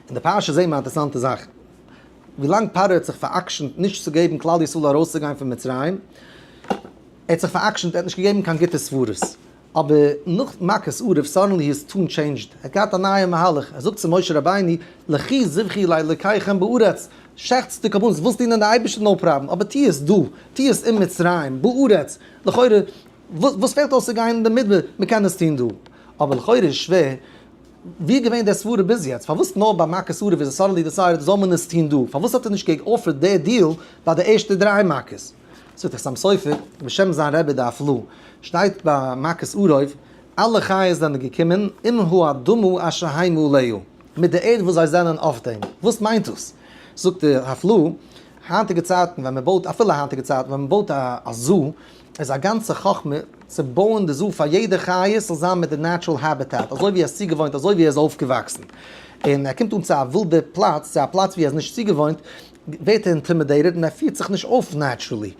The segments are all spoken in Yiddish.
אין די פרשה זעהן מיר א אינטערסאנטע זאך, ווילאנג פרעה האט זיך פאר'עקשנ'ט נישט צו געבן כלל ישראל ארויסצוגיין פון מצרים, ער האט זיך פאר'עקשנ'ט, ער האט נישט געגעבן קיין גוטע סברות, אבער נאך מכת ערוב סאדענלי היז טאן טשעינדזשד, ער האט געהאט א נייע מהלך, ער זאגט צו משה רבינו, לכי זבחי לאלוקיכם בארץ, שעכטס די קרבנות, ווילסט דינען די אייבערשטער נאו פראבלעם, אבער טוה עס דא, טוה עס אין מצרים, בארץ, לכאורה וואס פעלט אויס צו גיין אין די מדבר, מען קען עס טון דא, אבער לכאורה איז שווער, ווי איז געווען דער סברה ביז יעצט? פארוואס נאר ביי מכות ערוב איז עס סאדענלי דיסיידעד זאל מען עס טוהן דא? פארוואס האט ער נישט גע'גאפערט די דיעל ביי די ערשטע דריי מכות? זאגט דער חתם סופר בשם זיין רבי דף ל, שטייט ביי מכות ערוב, אלע חיות זענען געקומען עם האדמה אשר הם עליה, מיט די ערד וואס זיי זענען אויף דעם. וואס מיינט דאס? זאגט דער דף ל, היינטיגע צייטן ווען מען בויט, אפילו היינטיגע צייטן ווען מען בויט א זו, איז א גאנצע חכמה צו בויען די זו פאר יעדע חיה ס'זאל זיין מיט די נעטשרעל העביטעט אזוי ווי ער איז צוגעוואוינט אזוי ווי ער איז אויפגעוואקסן און ער קומט אן צו א ווילדע פלאץ צו א פלאץ ווי ער איז נישט צוגעוואוינט ווערט ער אינטימידעיטעד און ער פירט זיך נישט אויף נעטשרעלי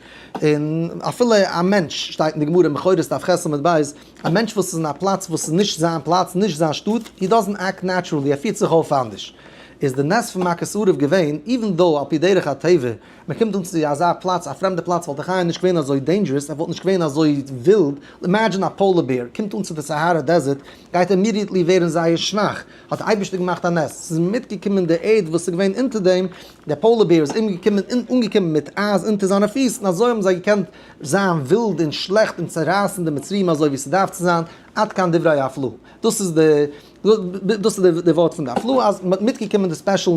און אפילו א מענטש שטייט אין די גמרא מכורת דף ח' עמוד ב' א מענטש וואס איז אין א פלאץ וואס איז נישט זיין פלאץ נישט זיין שטאט הי דאזענט עקט נעטשרעלי ער פירט זיך אויף אנדערש איז די נס פון מכת ערוב געווען איווען דאו על פי דרך הטבע מען קומט אן צו אזא פלאץ, א פרעמדע פלאץ וואלט דאך איה נישט געווען אזוי דעינדזשערעס, ער וואלט נישט געווען אזוי ווילד, אימעדזשין א פאולער בער קומט אן צו די סאהארא דעזערט, גייט אימידיעטלי ווערן זייער שוואך, האט דער אייבערשטער געמאכט א נס, עס איז מיטגעקומען די ערד וואס איז געווען אונטער דעם, דער פאולער בער איז אומגעקומען און אנגעקומען מיט אייז אונטער זיינע פיס, און אזוי האבן זיי געקענט זיין ווילד און שלעכט און צערייסן די מצריים אזוי ווי ס'דארף צו זיין, עד כאן דברי הפלא, דאס איז די. דאס איז די ווארט פון די הפלאה אז מ'האט מיטגעקומען די ספעשל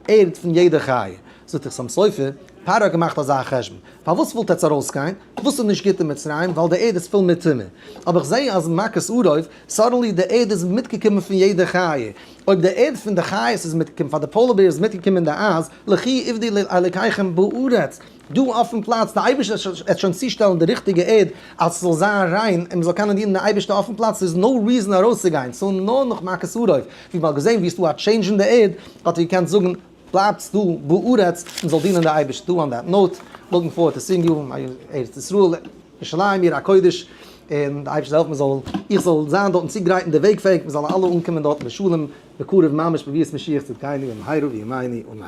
ערד פון יעדע חיה. זאגט דער חתם סופר, פרעה האט געמאכט אזא חשבון, פארוואס ווילט עטץ ארויסגיין? וואס איז נישט גוט אין מצרים? ווייל די ערד איז פול מיט טומאה. אבער איך זע אז מכות ארויף, סאדענלי די ערד איז מיטגעקומען פון יעדע חיה. אויב די ערד פון די חיות איז מיטגעקומען, פאר די פאולער בער איז מיטגעקומען די אייז, לכי עבדי לאלקיכם בארץ, דא אויפן פלאץ, דער אייבערשטער וועט שוין צושטעלן די ריכטיגע ערד אז ס'זאל זיין ריין און מ'זאל קענען דינען די אייבערשטער אויפן פלאץ, ס'איז נאו ריזען ארויסצוגיין, סאו נאר נאך מכות אויף, ווי מ'האט געזען ווי עס איז דא א טשעינדזש אין די ערד, האט ער געקענט זאגן בלייבטס דא בארץ און מ'זאל דינען די אייבערשטער, טא אן דעט נאוט, לוקינג פארווערד טו סיאינג יו אין ארץ ישראל, ירושלים עיר הקודש, און די אייבערשטער זאל העלפן מ'זאל, איך זאל זיין דארטן צוגרייט און די וועג פעאיג, מ'זאל אלע אנקומען דארטן בשלום בקרוב ממש בביאת משיח צדקינו במהרה בימינו אמן.